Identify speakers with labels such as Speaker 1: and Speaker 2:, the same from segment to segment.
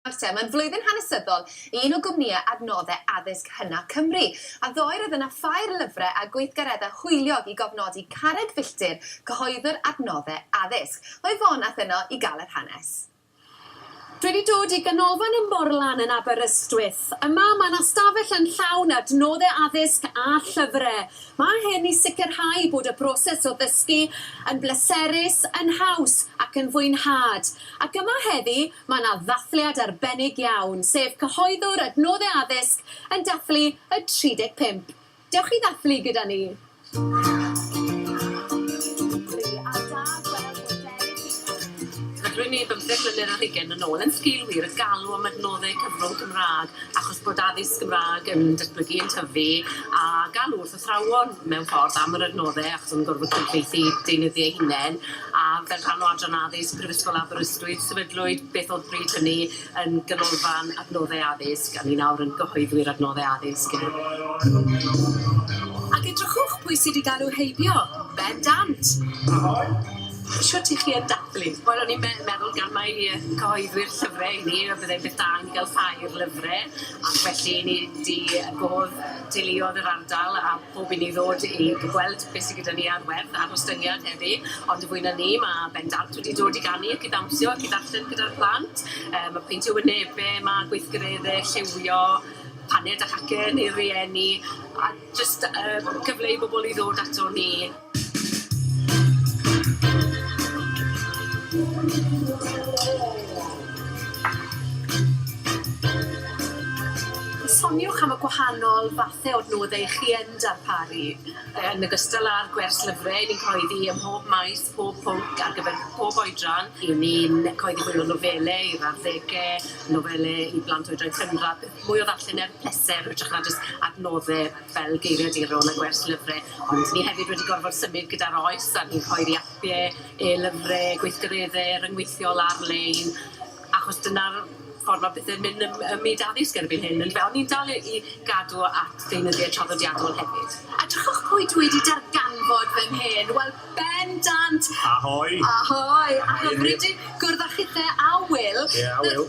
Speaker 1: Marte, mae'n flwyddyn hanesyddol i un o gwmnïau adnoddau addysg hynaf Cymru, a ddoe roedd yna ffair lyfrau a gweithgareddau hwyliog i gofnodi Carreg Filltir, cyhoeddwr adnoddau addysg. Mae Fon a'th yno i gael yr hanes.
Speaker 2: Dwi 'di dod i Ganolfan y Morlan yn Aberystwyth. Yma, mae 'na stafell yn llawn adnoddau addysg a llyfrau. Mae hyn i sicrhau bod y broses o ddysgu yn bleserus, yn haws ac yn fwynhad. Ac yma heddi, Mae yna ddathliad arbennig iawn, sef cyhoeddwr Adnoddau Addysg yn dathlu y 35. Dewch i ddathlu gyda ni!
Speaker 3: Ac rwy'n ei bymtheg mlynedd ar hugain yn ôl yn sgil wir y galw am adnoddau cyfrwng Cymraeg achos bod addysg Gymraeg yn datblygu, yn tyfu a galw wrth athrawon mewn ffordd am yr adnoddau achos o'n nhw'n gorfod cyfieithu deunyddiau eu hunain a fel rhan o Adran Addysg Prifysgol Aberystwyth sefydlwyd beth oedd bryd hynny yn Ganolfan Adnoddau Addysg a ni nawr yn gyhoeddwyr adnoddau addysg.
Speaker 2: Ac edrychwch pwy sydd wedi galw heibio! Bendant!
Speaker 3: Shwt i chi yn dathlu? Wel o'n i'n me- meddwl gan mai cyhoeddwyr llyfre i ni a byddai'n beth da i ni gael ffair lyfre ac felly ni 'di gof- Deuluodd yr ardal a phob un i ddod i gweld beth sy gyda ni ar werth ar ostyngiad heddi ond fwy na 'ny ma' bendant wedi dod i ganu ac i ddawnsio ac i ddarllen gyda'r plant yy ma' peintio wynebe ma' gweithgaredde lliwio paned a chacen i'r rieni a jyst yy cyfle i bobol i ddod ato ni.
Speaker 2: Soniwch am y gwahanol fathau o adnoddau chi yn darparu. Yn ogystal
Speaker 3: â'r gwers llyfrau, ni'n cyhoeddi ym mhob maes, pob pwnc, ar gyfer pob oedran. Ry'n ni'n cyhoeddi mwy o nofelau i'r arddegau, nofelau i blant oedran cynradd, mwy o ddarllen er pleser hytrach na jyst adnoddau. fel geiriaduron a gwers lyfre, ond ni hefyd wedi gorfod symud gyda'r oes a ni'n rhoi'r iapie, e-lyfre, gweithgaredde ryngweithiol ar-lein, achos dyna'r ffordd ma' pethe'n mynd ym ym myd addysg erbyn hyn yndyfe? On' ni'n dal i i gadw at ddeunyddiau traddodiadol hefyd. Edrychwch pwy dwi
Speaker 2: 'di darganfod fan hyn, wel bendant! Ahoi!
Speaker 4: Ahoi! Ahoi
Speaker 2: Enid. Ac am rydyn gwrdd â chithe a Wil. Ie a Wil.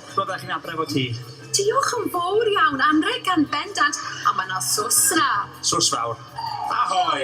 Speaker 4: Bo bach yn adref o ti. Diolch yn
Speaker 2: fowr iawn, anrheg gan bendant, a mae 'na sos 'na. Sos fawr.
Speaker 4: Ahoi!